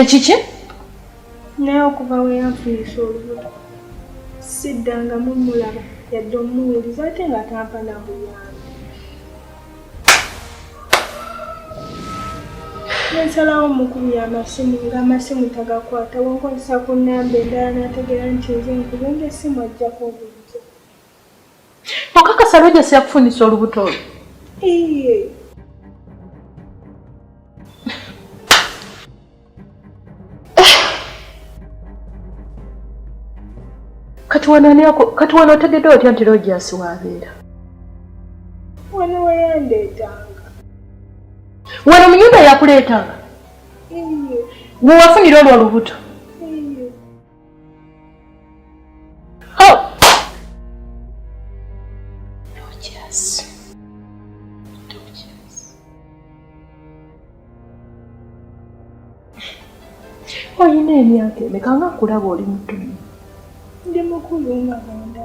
ekiki naye okuva we yanfunisa olubuto siddangamu mulaba yadde omuwuliza ate nga tampa na buyambi nensalawo mukubi y'amasimu ng'amasimu tagakwata wenkozesa ku nnamba endala n'ategeera nti nze nkubenga essimu ajjako obulijo okakasa lwejasi yakufunisa olubuto olwo kati wano otegedde otya nti lojasi wabeera wano weyandeetanga wano munyumba yakuleetanga wewafunira olwo olubuto olina emyaka emeka nga kulaba oli mutumu ndi mukulu nga banda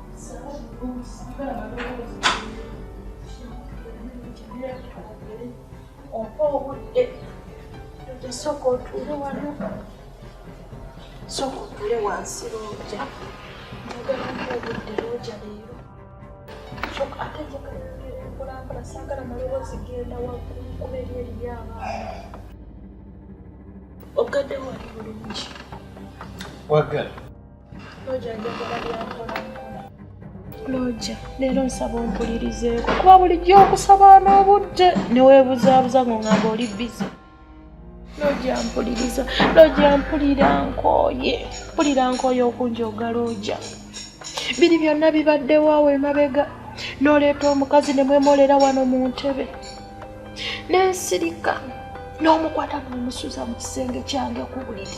oba obudde tosooka otuule wano sooka otuule wansi looja njagala mpa obudde looja leero sooka ate njagala okulambula saagala maloboozi genda waggulu kuba eri eriyo abaana ogadde wali bulungi wagala looja leero nsaba ompulirizeeko kuba bulijjo okusaba n'obudde neweebuzaabuza ngo ngamba oli bizi looja mpuliriza looja mpulira nkooye mpulira nkooye okunjoga looja biri byonna bibaddewo awo emabega n'oleeta omukazi ne mwemolera wano mu ntebe n'ensirika n'omukwata n'omusuza mu kisenge kyange ku buliri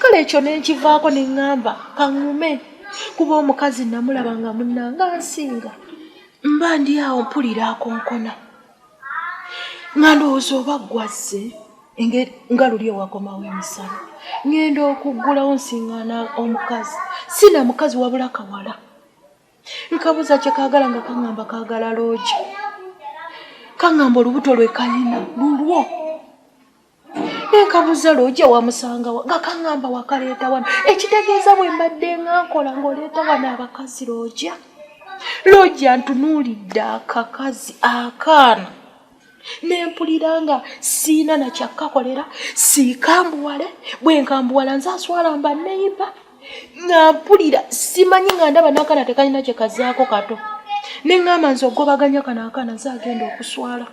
kale ekyo nenkivaako ne ŋŋamba kaŋŋume kuba omukazi namulaba nga munnanga nsinga mba ndi awo mpulira akonkona nga ndowooza oba ggwazze nga luli ewakomawo emisana ŋŋenda okuggulawo nsiŋŋaana omukazi si na mukazi wabula kawala nkabuuza kye kaagala nga kaŋŋamba kaagala loogi kaŋŋamba olubuto lwe kalina lulwo nekabuza lwoja wamusangawa nga kaŋamba wakaleeta wano ekitegeeza bwe mbadde nga nkola ng'oleeta wano abakazi lwoja lwoja ntunuulidde akakazi akaana nempulira nga siina nakyakkakolera siikambuwale bwe nkambuwala nze aswala mba neyiba nga mpulira simanyi nga ndaba nakana tekalina kyekazaako kato neŋamba nze ogobaganya kano akaana nze agenda okuswala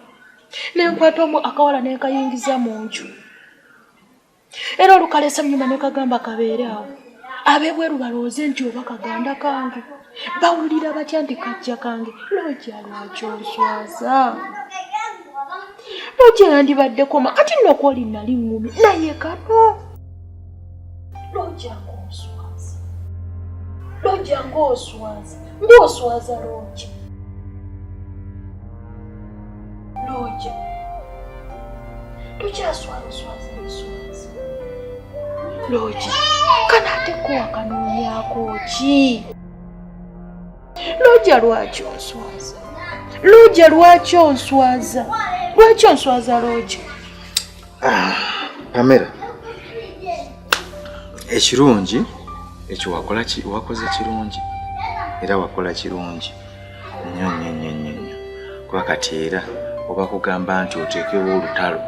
ne nkwata omu akawala ne nkayingiza mu nju era olukalesa nyuma ne kagamba kabeere awo abebweru balowooze nti oba kaganda kange bawulira batya nti kajja kange looja lwaki oswaza looja yandibadde koma kati nokwo oli nali ngumi naye kano Lojja ng'oswaza, lojja ng'oswaza, ng'oswaza lojja, lojja tokyaswazaswaza nswaza lojja kana ate kowakanoonyako ki lojja lwaki onswaza lojja lwaki onswaza lwaki onswaza lojja Pamela, ekirungi ekyo wakola wakoze kirungi era wakola kirungi nnyo nnyo nnyo nnyo nnyo kuba kati era oba kugamba nti oteekewo olutalo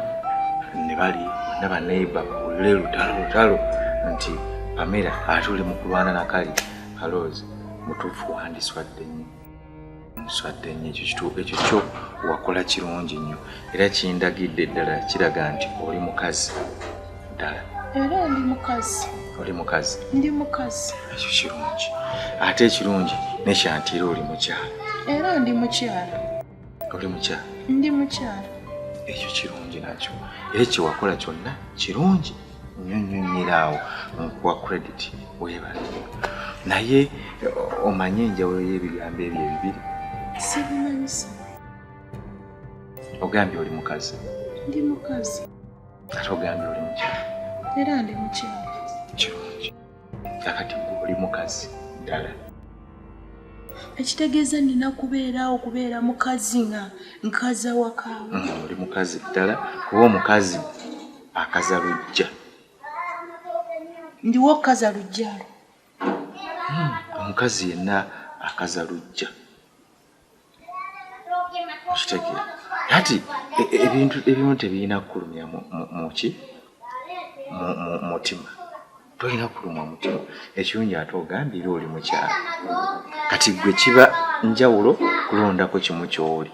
ne bali na baneiba bawulire lutalo lutalo nti Pamela atuli mu kulwana na kali aloozi mutuufu wandiswadde nnyo. swadde nnyo ekyo kituuka ekyo kyo wakola kirungi nnyo era kindagidde ddala kiraga nti oli mukazi ddala era ndi mukazi oli mukazi ndi mukazi ekyo kirungi ate ekirungi nekyanti era oli mukyala era ndi mukyala oli mukyala ndi mukyala ekyo kirungi nakyo era kyewakola kyonna kirungi nyonyonyera awo nkuwa credit webale naye omanye enjawulo y'ebigambo ebyo ebibiri sibimanyisa ogambye oli mukazi ndi mukazi ate ogambye oli mukyala era ndi mukyala kirungi kakati oli mukazi ddala ekitegeeza nina kubeeraawo kubeera mukazi nga nkaza wakaawo mm, oli mukazi ddala kuba omukazi akaza lujja ndiwo okukaza lujjalo hmm, omukazi yenna akaza lujja okitegeera kati e, e, ebintu ebimu tebirina kukulumya muki mutima tolina kulumwa mutima ekirungi ate ogambye era oli mukyalo kati gwe kiba njawulo kulondako kimu kyoli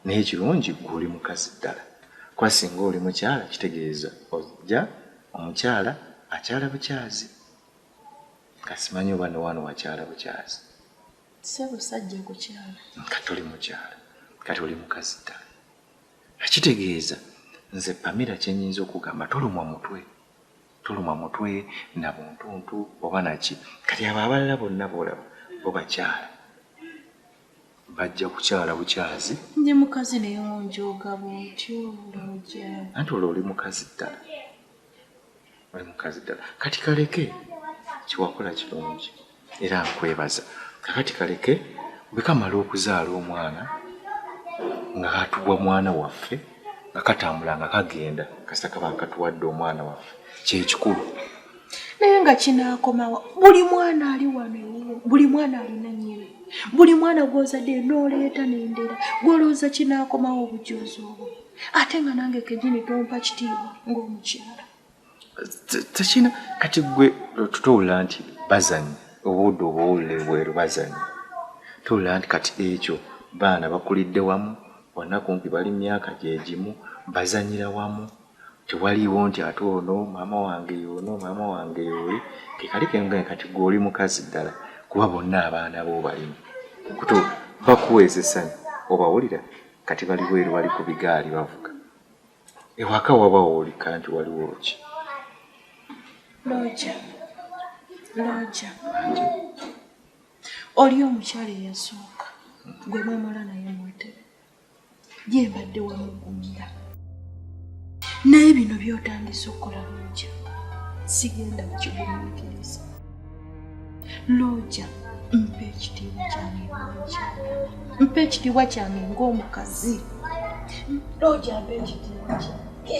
Naye ekirungi gwe oli mukazi ddala kuba singa oli mukyala kitegeeza ojja omukyala akyala bukyazi nga simanyi oba newano wakyala bukyazi sebusajja kukyala kati oli mukyala kati oli mukazi ddala ekitegeeza nze pamira kyenyinza okugamba tolumwa mutwe tolumwa mutwe na buntuntu oba naki kati abo abalala bonna boolaba bo bakyala bajja kukyala bukyazi ndi mukazi naye onjooga bwotyo looja anti olwo oli mukazi ddala oli mukazi ddala kati kaleke kyewakola kirungi era nkwebaza kakati kaleke bwekamala okuzaala omwana nga katubwa mwana waffe nga katambula nga kagenda kasita kaba nkatuwadde omwana waffe kyekikulu naye nga kinaakomawa buli mwana ali wano ewuwo buli mwana alina nyini buli mwana gwozadde nooleeta nendera gwolowooza kinaakomawo obujoozi obwo ate nga nange kejini tompa kitiibwa ng'omukyala tekina kati gwe tutowulira nti bazanyi obuudde obowulira ebweru bazanyi towulira nti kati ekyo baana bakulidde wamu bonna kumpi bali myaka gyegimu bazanyira wamu Tewaliiwo nti ate ono maama wange y'ono, maama wange y'oli. Ke kali ke nkugambye kati ggwe oli mukazi ddala kuba bonna abaana bo obalina. Kutu bakuweesa essanyu obawulira kati bali bweru bali ku bigaali bavuga. Ewaka waba woolika nti waliwo ki? Looja, looja. Oli omukyala eyasooka gwe mwemala naye mwetebe. ye mbadde wamugumira naye bino byotandise okukola looja sigenda kukigumikiriza looja mpa ekitiibwa kyange mpa ekitiibwa kyange ng'omukazi looja mpa ekitiibwa kyange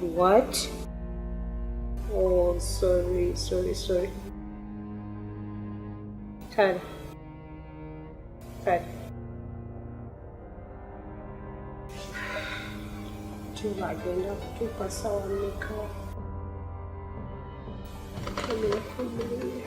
What? Oh, sorry, sorry, sorry. Tara. Tara. Chumba agenda kutupa sawa mika. Amefungulia.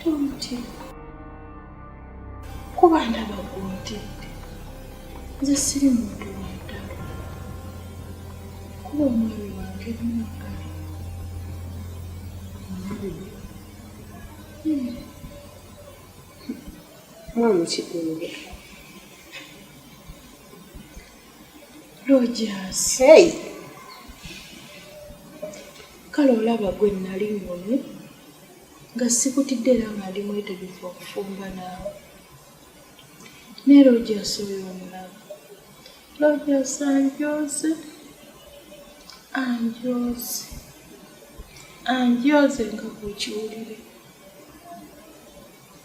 tonti kuba ndaba gwontidde nze siri muntu wantalo kuba omwami wange mwagala mwana kigunge Rogers. Hey. Kale olaba gwe nali ngonye nga sikutidde era nga ndi mwetegefu okufumba naawe. Ne Rogers oyo omulaba. Rogers anjooze. Anjooze. Anjooze nga bw'okiwulire.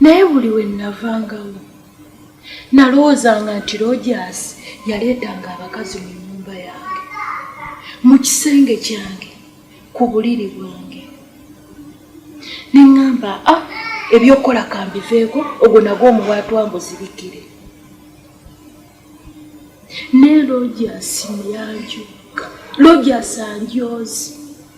naye buli we nnavangawo nalowoozanga nti rojaasi yaleetanga abakazi mu nnyumba yange mu kisenge kyange ku buliri bwange ne ŋŋamba a ah, ebyokukola kambiveeko ogwo nago omuwaatwa mbuzibikire ne rojaasi muyanjuka rojaasi anjoozi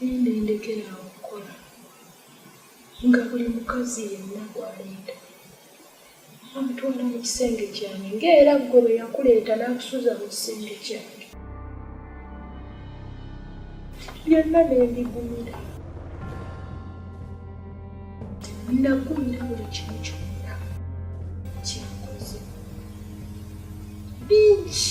Nenda endekera awo okukola nga buli mukazi yenna gwaleeta amutwala mu kisenge kyange ng'era ggwe bwe yakuleeta n'akusuza mu kisenge kyange byonna ne mbigumira nagumira buli kimu kyonna kyakoze bingi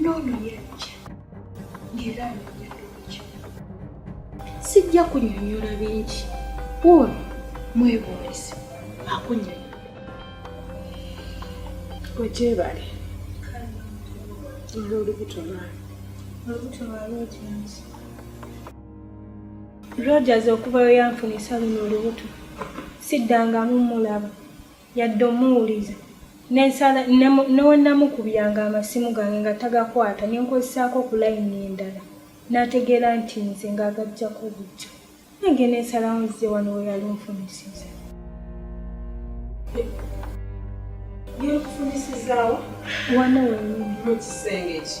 n'ono yajja ng'era anoonya lwaki sijja kunyonyola bingi ono mwebuulizi akunyonyola wegyebale olw'olubuto lwayo olubuto lwa rogers rogers okuvayo yanfunisa luno olubuto siddangamu mulaba yadde omuwuliza nensala newenamukubyanga amasimu gange nga tagakwata nenkozesaako ku layini endala nategeera nti nze nga agajjako bujja naye ngenda ensalawo nzize wano weyali onfunisiza wano wenyini mukisenge ki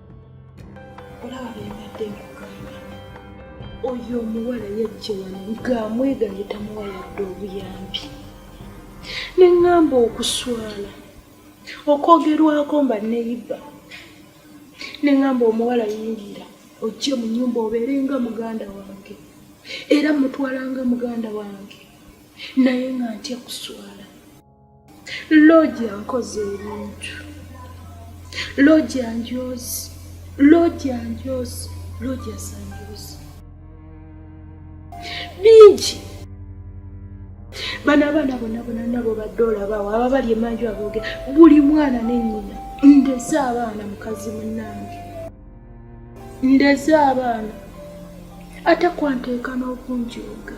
olaba byembadde nkugamba oyo omuwala yajja wano ng'amweganye tamuwa yadde obuyambi ne ŋŋamba okuswala okwogerwako mba neyiba ne ŋŋamba omuwala yingira ojje mu nyumba obeere nga muganda wange era mutwala nga muganda wange naye nga ntya kuswala loogi ankoze ebintu loogi anjoozi loogi anjoozi loogi asanjoozi bingi bano abaana bona bona nabo badde olabawo aba bali emanju abooge buli mwana nenyina ndeze abaana mukazi munange ndeze abaana ate kwanteeka n'okunjooga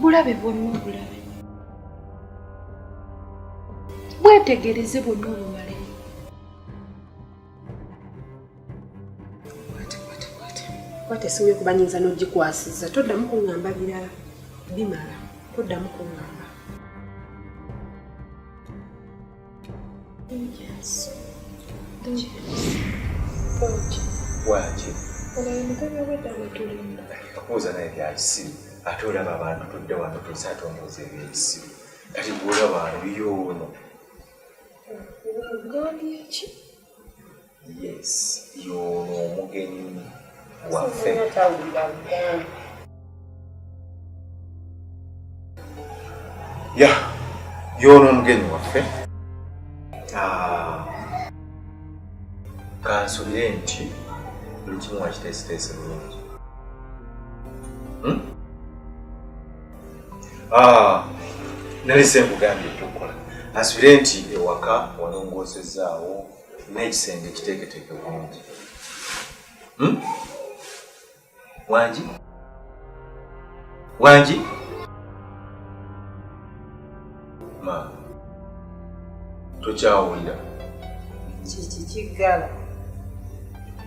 bulabe bwonna obulabe bwetegereze bwonna obumale kwata esimu yo kuba nyinza n'ogikwasiza toddamu kuŋŋamba birala bimala toddamu kuŋŋamba waki kubuuza naye byakisiru ate olaba abantu tudde wano tuze ate omuuza ebyekisiru kati gweolaba ano yoono yes yono omugenyi waffe ya yono omugenyi waffe kansubire nti buli kimu wakiteesiteese bulungi Ah, nali senkugambye ekyokukola asubire nti ewaka walongoosezaawo n'ekisenge kiteeketeeke bulungi hmm? wangi wangi Ma, tokyawulira kiki kiggala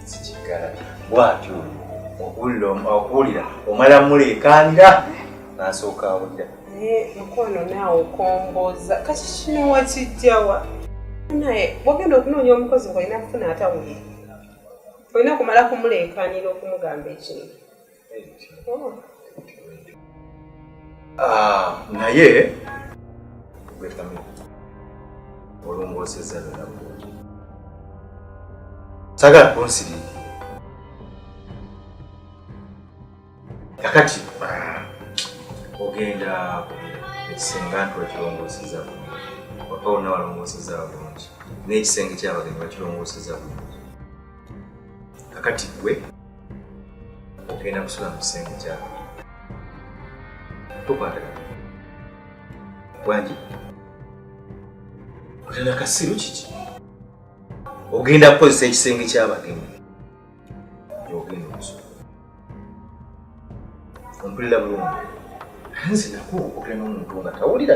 kikiggala bwatyo oyo okuwulira omala muleekaanira n'asooka awulira mukwano naawe okomboza kati kino wakijjawa naye bwogenda okunoonya omukozi ngaolina kufuna atawulira olina kumala kumuleekaanira okumugamba ekintu Ah, naye gwetamu olongoosezza byona bulungi sagala kunsiri kakati ah, ogenda ekisenga nti wakirongoseza bulungi waka wonna walongoseza bulungi n'ekisenge kyabagenyi bakirongoseza bulungi kakati gwe ogenda kusula mu kisenge kyako tukwatagana bwangi otenda kasiru kiki ogenda kukozesa ekisenge kyabagenyi ogenda okusula ompulira bulungi nze nakuwa okwogera n'omuntu nga tawulira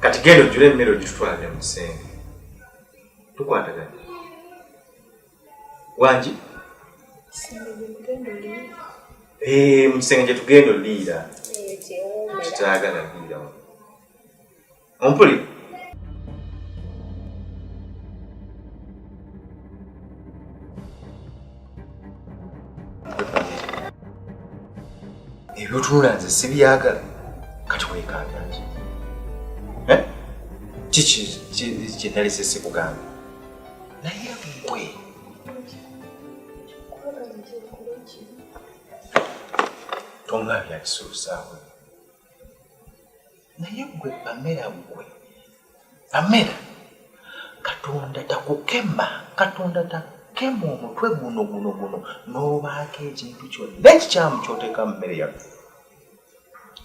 kati genda ojjula emmere ogitutwalira mu kisenge tukwatagana wangi eh, mu kisenge gyetugenda oliira kitagala ompuli ebyotunula nze sibyagala kati wekanga nze eh? kiki kyenalese sikugamba naye gwe tonga byakisuusaawe naye gwe amera gwe amera katonda takukema katonda takema omutwe guno guno guno n'obaako ekintu kyonna ekikyamu kyoteeka mu mmere yaffe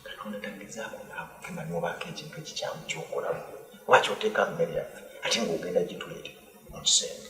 katonda tagezaako naakukema n'obaako ekintu ekikyamu kyokolamu lwaki oteeka mu mmere yaffe ate ng'ogenda gituleete mu kisenge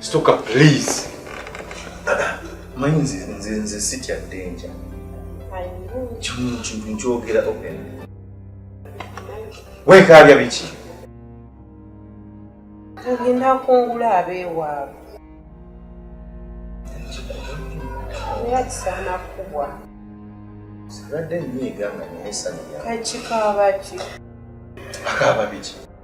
Stuka please. Manyi nze nze nze sitya danger. Kimu kintu nkyogera open. Weekaabya biki? Ngenda kungula abeewaabwe. Era kisaana kubwa. Sibadde nnyiiga nga naye sanya. Kakikaaba ki? Akaaba biki?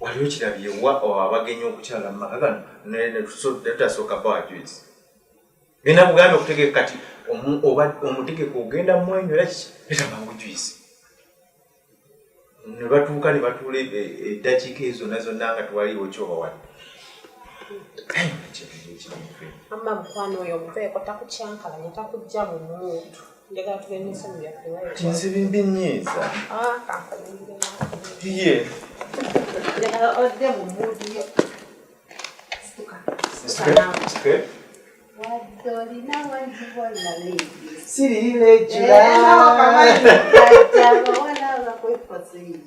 waliwo kirabye wa abagenyi okukyala mu maka gano netutasooka bawa juice bina buganda okutegeka kati omutegeka ogenda mwenyo era kiki netamangu juice ne batuuka ne batuula e, e, eddakiika ezo na zonna nga twaliwo kyoba wali amma mukwano oyo omuveeko takukyankalanya takujja mu muntu nzibinbinyiiza ye siri legiraaaaaa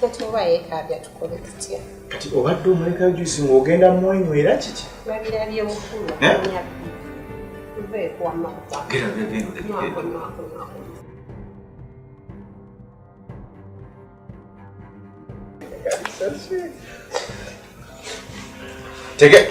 kati oba yekaabya tukole tutya kati obadde omulekayo juice ng'ogenda mumwenyu era kiki babirabye bukulu Take it.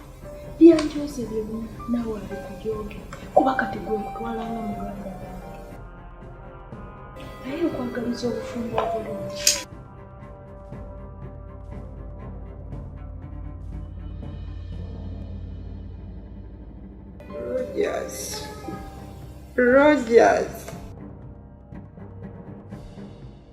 byanjooze byonna nawe abikujooge kuba kati gwe mutwala nga muganda naye okwagaliza obufumbo obulungi Rogers. Rogers.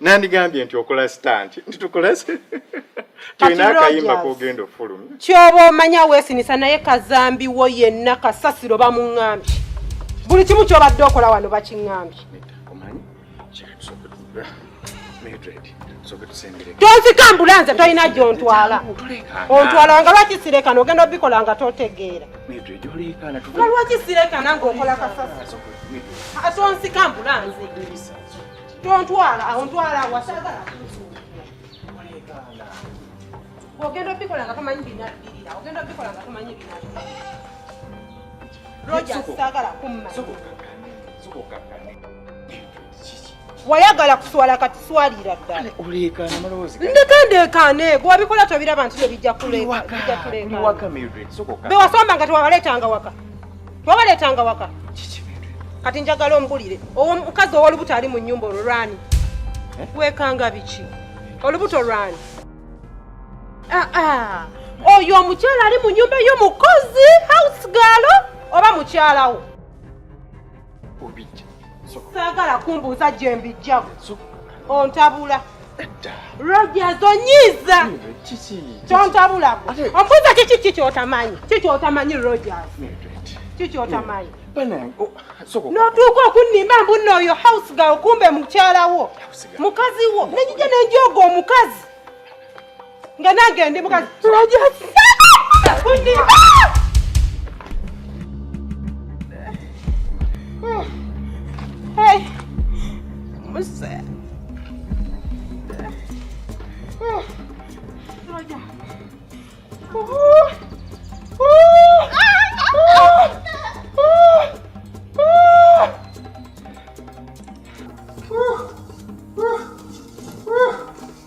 nandigambye nti okola stanti nti tukole tulina akayimba kogenda ofulumya kyoba omanya wesinisa naye kazambi wo yenna kasasiro bamuŋambye buli kimu kyobadde okola wano bakiŋambye tonsika ambulanse tolina gyontwala ontwala nga lwaki sirekana ogenda obikola nga totegeera nga lwaki sirekana ngaokola kasasiro atonsika ambulanse tontwala awo ntwala awasagala ogenda obikola nga tomanyi binabirira ogenda obikola nga tomanyi binabirira roja sagala kumma wayagala kuswala kati swalira ddala ndekandeekaane gwewabikola tobiraba nti nebijja kuleeka bewasamba nga tewabaleetanga waka wabaleetanga waka kati njagala ombulire owo mukazi owolubuto ali mu nyumba olwo lwani eh? wekanga biki olubuto lwani ah, ah. oyo omukyala ali mu nyumba yo mukozi house galo oba mukyalawo saagala kumbuuza gye mbijjamu ontabula Rogers onyiiza kyontabulako ombuuza kiki ki kyotamanyi ki kyotamanyi Rogers ki kyotamanyi notuuka okunnimba mbunna oyo house ga okumbe mukyala wo mukazi wo nenjija nenjooga omukazi nga nange ndi mukazi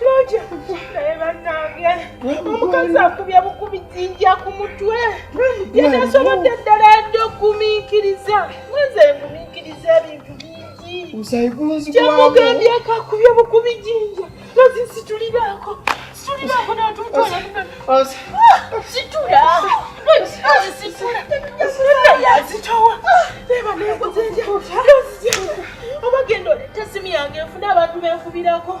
Looja naye bannange omukazi akubye bukubi jinja ku mutwe yetasobodde ddala yadde okugumiikiriza nze ngumiikiriza ebintu bingi kyemugambye kakubye bukubi jinja nozi situliraako situliraako natutwala situla nozi situla yazitowa eba nenguzenja nozi oba genda oleta esimu yange nfuna abantu benfubirako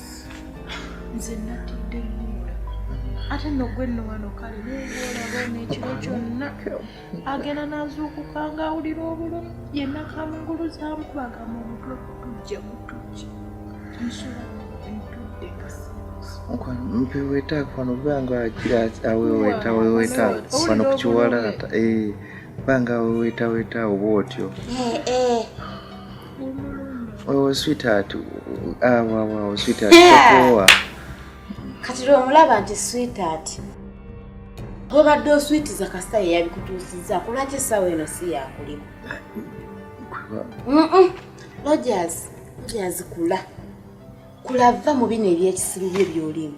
nze natidde nnyula ate nno gwe nno wano kale neewoolaba ono ekiro kyonna agenda n'azuukuka ng'awulira obulumi yenna kamunguluzaamu kubagamba omutwe kutujja mutujja nsula ntudde kasi mpeweetaako wano banga aweweetaweweeta wano ku kiwalaata banga aweweetaweeta oba otyo Oh, sweetheart. Ah, wow, wow, sweetheart. Yeah. Kati lwe omulaba nti sweetheart. Obadde oswitiza kasita ye yabikutuusizza kulwaki essaawa eno si yakulimu. Rogers, Rogers kula. Kula va mu bino eby'ekisiru bye by'olimu.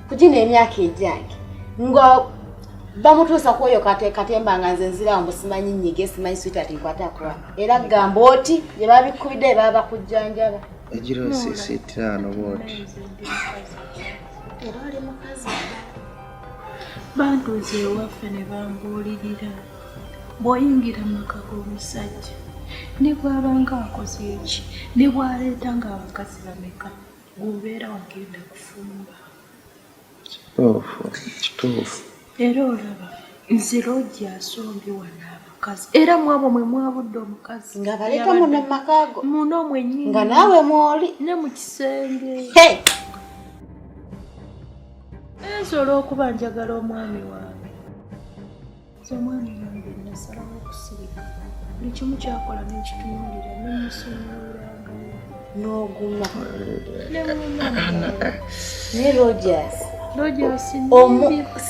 kugina emyaka egyange nga bamutuusa kwoyo katemba nga nze nzirawo mbu simanyi nyige simanyi switart nkwatakuwa era gamba oti gye babikubidde baba bakujjanjaba egiro sisi ttaano bwoti era oli mukazi bantuuza ewaffe ne bambuulirira bw'oyingira mu maka g'omusajja ne bw'abanga akoze eki ne bw'aleeta ng'abakazi bameka Bw'obeera wagenda kufumba. Kituufu, kituufu. Era olaba nze loogi asombye wano abakazi era mwabo mwe mwabudde omukazi nga baleeta muno mu maka go muno mwennyini nga naawe mwoli ne mu kisenge nsobola okuba njagala omwami wange Zamani nange nasalawo okusirika buli kimu kyakola nekitunuulira nemusumulanga n'oguma ne rogers rogers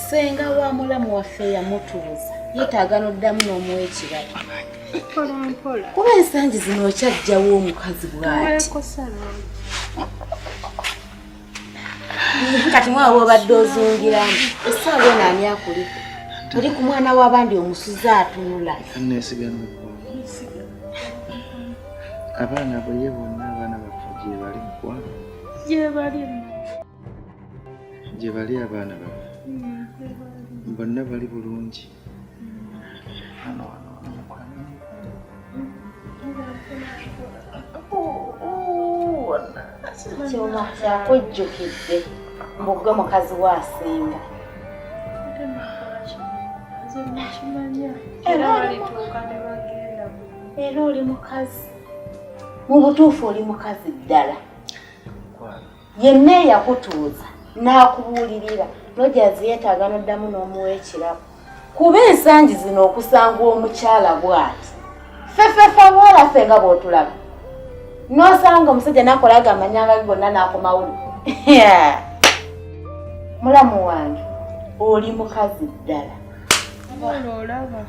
senga wa mulamu waffe yamutuuza yetaaga n'oddamu n'omuwa ekirabo kuba ensangi zino okyajjawo omukazi bwati kati mwa wobadde ozungiramu essaawa eno ani akuli oli ku mwana w'abandi omusuze atunula abaana bweye bonna abaana baffe gyebali mukwano gyebali gyebali abaana baffe bonna bali bulungi kyuma kyakujjukidde mbugwe mukazi wa asinga era oli mukazi mu butuufu oli mukazi ddala yenna eyakutuuza n'akubuulirira nojazi yeetaaga noddamu n'omuwa ekirabo kuba ensangi zino okusanga omukyala bwati fefefa bwolaffe nga bw'otulaba n'osanga omusajja nakolaga amanyanga ge gonna n'akomawulu mulamu wange oli mukazi ddala olaba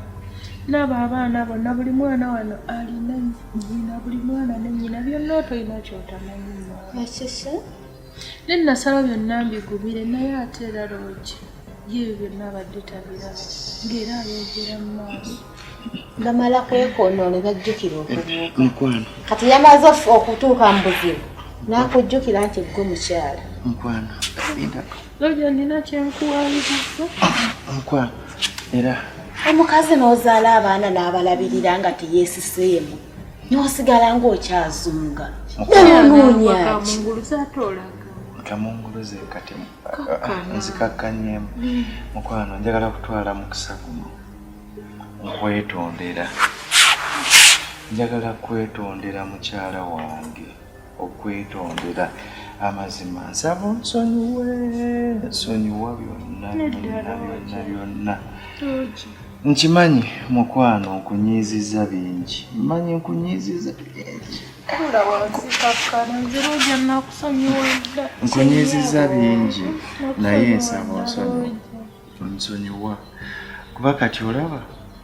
laba abaana bonna buli mwana wano alina nyina buli mwana ne nyina byonna otolina kyotamanyi ekisa ne nasaba byonna mbigumire naye ate era loogi yeebyo byonna abadde tabiraba ng'era ayogera mu maaso bamala kwekonoole bajjukira okubuuka kati yamaze okutuuka mu buzibu n'akujjukira nti ggwe mukyala Looja nina kyenkuwaliriza. Nkwa era omukazi n'ozaala abaana n'abalabirira nga teyeesiseemu n'osigala ng'okyazunga nanoonyaki kamunguluze kati nzikakkanyemu mm. mukwano njagala kutwala mukisa guno nkwetondera njagala kwetondera mukyala wange okwetondera amazima nsaba onsonyiwe nsonyiwa byonna byonna byonna byonna nkimanyi mukwano nkunyiiziza bingi mmanyi nkunyiiziza bingi nkunyiiziza bingi naye nsaba onsonyiwa kuba kati olaba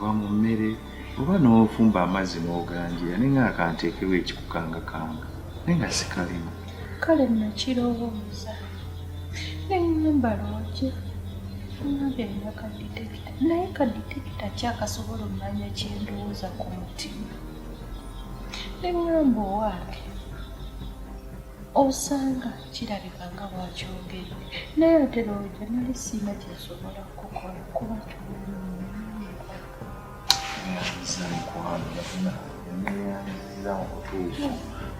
oba mu mmere oba n'ofumba amazzi n'oganjira naye nga akanteekewo ekikukangakanga naye nga sikalimu kale nakirowooza neŋŋamba lwaki ngambye nina kaditekita naye kaditekita kyakasobola omanya kyendowooza ku mutima neŋŋamba owange osanga kirabika nga bwakyogere naye ate looja nali siina kyensobola kukola kuba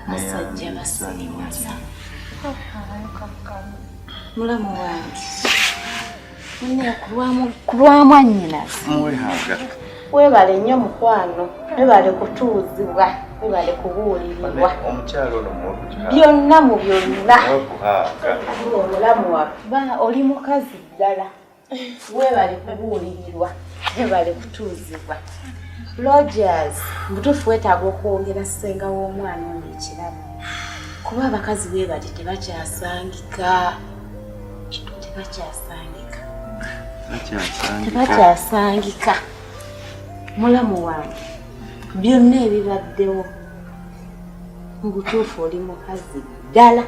basajja basiriwaza mulamu wange webale nnyo mukwano webale kutuuzibwa webale kubuulirirwa byonna mu byonna omulamu waffe oli mukazi ddala webale kubuulirirwa webale kutuuzibwa logers mutuufu wetaaga okwongera ssenga w'omwana ono ekirabo kuba abakazi bebali tebakyasangika tebakyasangika tebakyasangika mulamu wange byonna ebibaddewo mu butuufu oli mukazi ddala